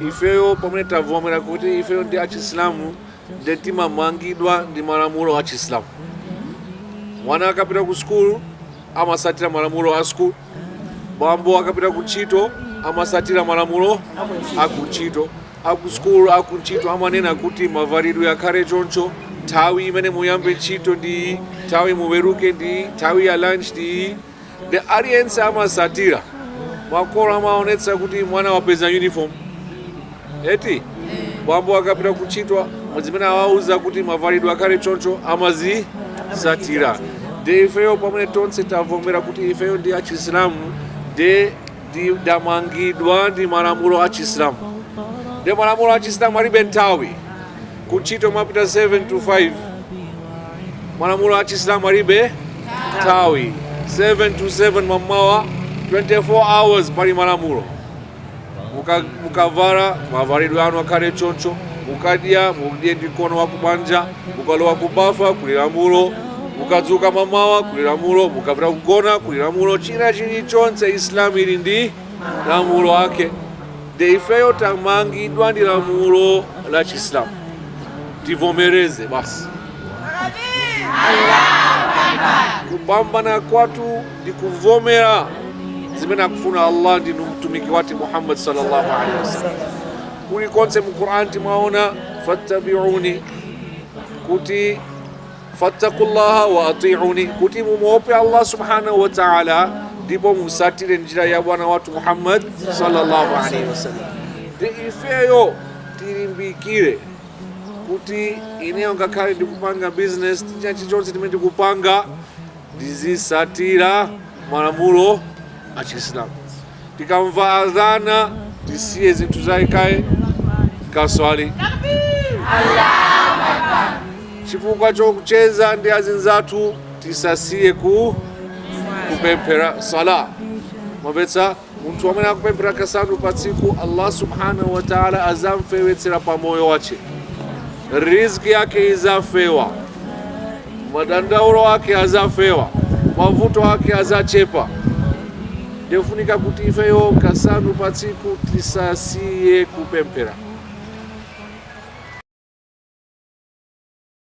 Ifeyo pamene tavomera kuti ifeyo ndi achisilamu nde timamangidwa ndi malamulo a chisilamu mwana akapita ku sukulu amasatira malamulo a sukulu bambo akapita ku ntchito amasatira malamulo a ku ntchito a ku sukulu a ku ntchito amanena kuti mavalidwe akhale choncho nthawi imene muyambe ntchito ndi iyi nthawi muweruke ndi iyi nthawi ya lunch ndi iyi nde aliyense amasatira makolo amaonetsa kuti mwana wapeza uniform eti bambo akapita kuntchito zimene awauza kuti mavalidwe akhale choncho amazisatira nde ifeyo pamene tonse tavomera kuti ifeyo ndi achisilamu ndi ndamangidwa ndi malamulo a chisilamu nde malamulo a chisilamu alibe nthawi kuntchito mwapita 7 to 5 malamulo a chisilamu alibe nthawi 7 to 7 mammawa 24 hours pali malamulo mukavala mavalidwe anu akhale choncho mukadya mudye ndi mkono wakumanja mukalowa kubafa kuli lamulo mukadzuka mamawa kuli lamulo mukapita kugona kuli lamulo china chilichonse islam ili ndi malamulo ake nde ifeyo tamangidwa ndi lamulo la chiislamu tivomereze basi kupambana kwathu ndi kuvomera zimene akufuna allah ndi mtumiki wathu muhammad sallallahu alaihi wasallam Kulikonse mu Qur'an timaona fattabi'uni kuti fattakullaha wa ati'uni kuti mumuope Allah subhanahu wa ta'ala ndipo musatire njira ya bwana wathu Muhammad sallallahu alaihi wasallam. Nde ifeyo tilimbikire kuti ineyo ngakhale ndikupanga business china chilichonse chimene ndikupanga ndizisatira malamulo a Chisilamu. tikamva adhana tisiye zinthu zathu kaye kaswali chifukwa cha kucheza ndi azinzathu tisasiye kupemphera sala mwamvetsa munthu amene akupemphera kasanu pa tsiku allah subhanahu wa taala azamfewetsera pa moyo wache riziki yake izafewa madandaulo ake azafewa mavuto ake azachepa nde ifunika kuti ifeyo kasanu patsiku tisasiye kupemphera